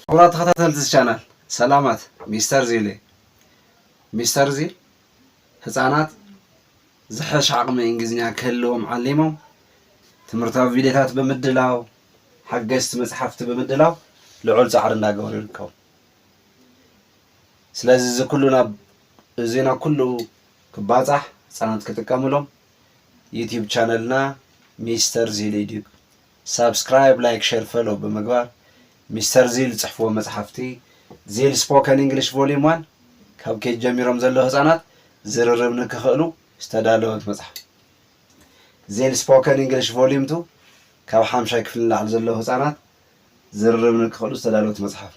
ክቡራት ተኸታተልቲ እዚ ቻናል ሰላማት ሚስተር ዚል እየ ሚስተር ዚል ህጻናት ዝሐሽ ዓቕሚ እንግሊዝኛ ክህልዎም ዓሊሞም ትምህርታዊ ቪድዮታት ብምድላው ሓገዝቲ መጽሓፍቲ ብምድላው ልዑል ጻዕሪ እንዳገበሩ ይርከቡ ስለዚ እዚ ኩሉ ናብ እዚ ናብ ኩሉ ክባጻሕ ህጻናት ክጥቀምሎም ዩቲዩብ ቻነልና ሚስተር ዚል ኢድዩ ሳብስክራይብ ላይክ ሸር ፈሎው ብምግባር ሚስተር ዚል ዝጽሕፍዎ መጽሓፍቲ ዚል ስፖከን ኢንግሊሽ ቮሊም ዋን ካብ ኬጅ ጀሚሮም ዘለዉ ህጻናት ዝርርብ ንክኽእሉ ዝተዳለወት መጽሓፍ ዚል ስፖከን ኢንግሊሽ ቮሊም ቱ ካብ ሓምሻይ ክፍሊ ንላዕሊ ዘለዉ ህጻናት ዝርርብ ንክኽእሉ ዝተዳለወት መጽሓፍ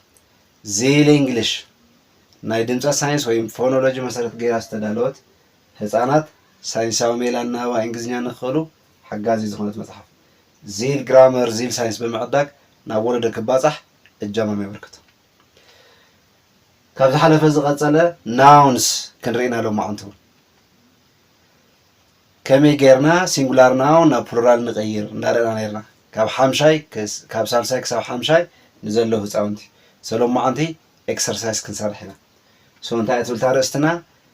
ዚል ኢንግሊሽ ናይ ድምጸት ሳይንስ ወይም ፎኖሎጂ መሰረት ገይራ ዝተዳለወት ህጻናት ሳይንሳዊ ሜላ ኣናባባ እንግሊዝኛ ንክኽእሉ ሓጋዚ ዝኾነት መጽሓፍ ዚል ግራመር ዚል ሳይንስ ብምዕዳግ ናብ ወለዶ ክባጻሕ እጃሞም የበርክቱ። ካብ ዝሓለፈ ዝቐጸለ Nouns ክንርኢና ሎማዕንቱ። ከመይ ጌርና ሲንጉላር ናውን ናብ ፕሉራል ንቐይር እንዳረእና ነርና ካብ ሓምሻይ ካብ ሳልሳይ ክሳብ ሓምሻይ ንዘለዉ ህፃውንቲ ሰሎማዓንቲ ኤክሰርሳይስ ክንሰርሕ ኢና ሶ እንታይ እትብል ታርእስትና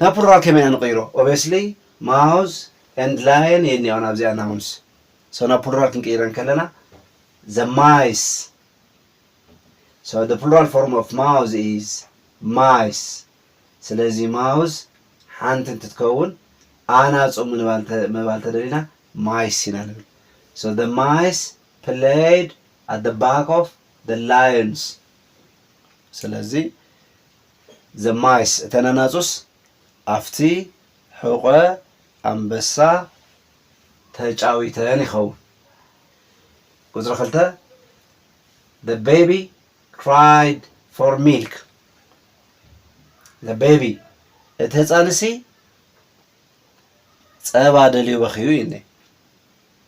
ናብ ፕሉራል ከመይ ኢና ንቕይሮ ኦቤስሊ ማውዝ ኤንድ ላየን እየን እኒኣኦ ናብዚኣ ናውንስ ሶ ናብ ፕሉራል ክንቅይረን ከለና ዘ ማይስ ሶ ዘ ፕሉራል ፎርም ኦፍ ማውዝ ኢዝ ማይስ ስለዚ ማውዝ ሓንቲ እንትትከውን ኣናጹ ምባል ተደሊና ማይስ ኢና ንብል ሶ ዘ ማይስ ፕለይድ ኣት ዘ ባክ ኦፍ ዘ ላየንስ ስለዚ ዘማይስ እተን ኣናጹስ ኣብቲ ሕቖ ኣንበሳ ተጫዊተን ይኸውን። ቁጽሪ ክልተ The baby cried for milk The baby እቲ ህፃንሲ ፀባ ደልዩ በኽዩ እዩኒ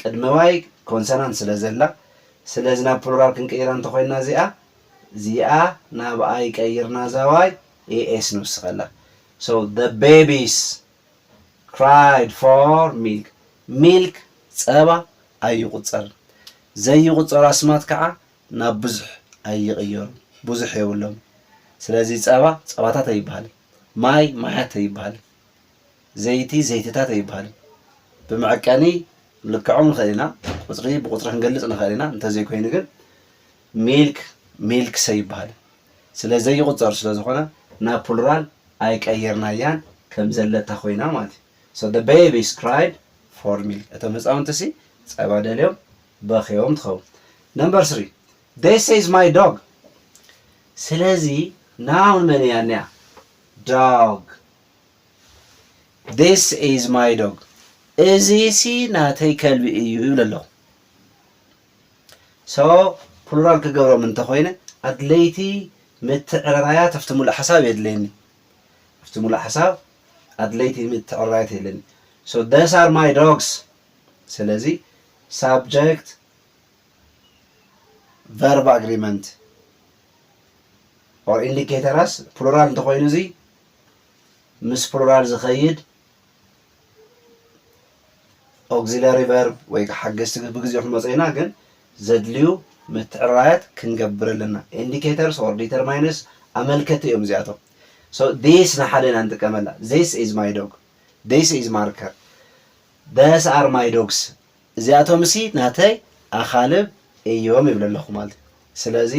ቅድመ ዋይ ኮንሰናንት ስለ ዘላ ስለዚ ናብ ፕሉራል ክንቅይራ እንተ ኮይና እዚኣ እዚኣ ናብ ኣይ ቀይርና እዛ ዋይ AS ንውስኸላ so the babies cried for milk milk ጸባ ኣይቁጸርን ዘይቁጸሩ ኣስማት ከኣ ናብ ብዙሕ ኣይቅየሩን ብዙሕ የብሎምን ስለዚ ጸባ ጸባታት ኣይብሃልን ማይ ማያት ኣይብሃልን ዘይቲ ዘይትታት ኣይብሃልን። ብመዐቀኒ ክንልክዖም ንኽእል ኢና፣ ቁፅሪ ብቁፅሪ ክንገልፅ ንኽእል ኢና፣ እንተዘይኮይኑ ግን ሚልክ ሚልክስ ኣይብሃልን። ስለ ዘይቑፀር ስለ ዝኾነ ናብ ፕሉራል ኣይቀየርናያን ከም ዘለታ ኮይና ማለት እዩ። So the babies cried for milk እቶም ህፃውንቲሲ ፀባ ደልዮም በኽዮም ትኸውን። Number three This is my dog ስለዚ ናውን መን እያ እኒኣ? Dog ዚስ ኢዝ ማይ ዶግ እዚሲ ናተይ ከልቢ እዩ ይብል ኣለኹ ሶ ፕሉራል ክገብሮም እንተኾይነ ኣድለይቲ ምትዕርራያት ኣብቲ ሙሉእ ሓሳብ የድለየኒ ኣብቲ ሙሉእ ሓሳብ ኣድለይቲ ምትዕርራያት የድለየኒ ሶ ደስ ኣር ማይ ዶግስ ስለዚ ሳብጀክት ቨርብ ኣግሪመንት ኦር ኢንዲኬተራስ ፕሉራል እንተኾይኑ እዙይ ምስ ፕሉራል ዝኸይድ ኦግዚለሪ ቨርብ ወይ ሓገዝቲ ግስ ብግዜኡ ክንመጾ ኢና፣ ግን ዘድልዩ ምትዕርራያት ክንገብር ኣለና። ኢንዲኬተርስ ኦር ዲተርማይነርስ ኣመልከቲ እዮም እዚኣቶም። ሶ ዲስ ንሓደ ኢና ንጥቀመላ፣ ዚስ ኢዝ ማይ ዶግ፣ ዲስ ኢዝ ማርከር፣ ደስ ኣር ማይ ዶግስ እዚኣቶምሲ ናተይ ኣኻልብ እዮም ይብል ኣለኹ ማለት እዩ። ስለዚ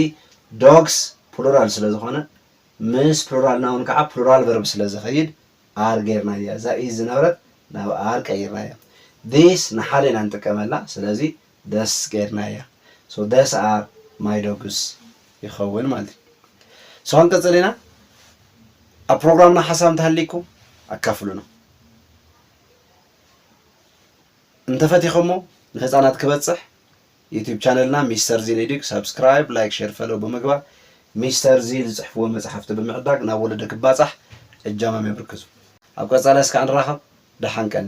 ዶግስ ፕሉራል ስለ ዝኾነ ምስ ፕሉራል ናውን ከኣ ፕሉራል ቨርብ ስለ ዝኸይድ are ጌርናያ። እዛ is ዝነበረት ናብ are ቀይርናያ። These ንሓደ ኢና ንጥቀመላ ስለዚ these ጌርናያ። So these are my dogs ይኸውን ማለት እዩ። So ክንቅጽል ኢና። ኣብ ፕሮግራምና ሓሳብ እንተሃልይኩም ኣካፍሉና። እንተፈቲኸሞ ንህጻናት ክበጽሕ ዩቱብ ቻነልና ሚስተር ዚን ኢዲግ ሳብስክራይብ ላይክ ሼር ፈለው ብምግባር ሚስተር ዚን ዝጽሕፍዎ መጽሓፍቲ ብምዕዳግ ናብ ወለዶ ክባጻሕ እጃሞም የብርክቱ። ኣብ ቀጻሊ እስከ ንራኸብ ደሓን ቀኒ።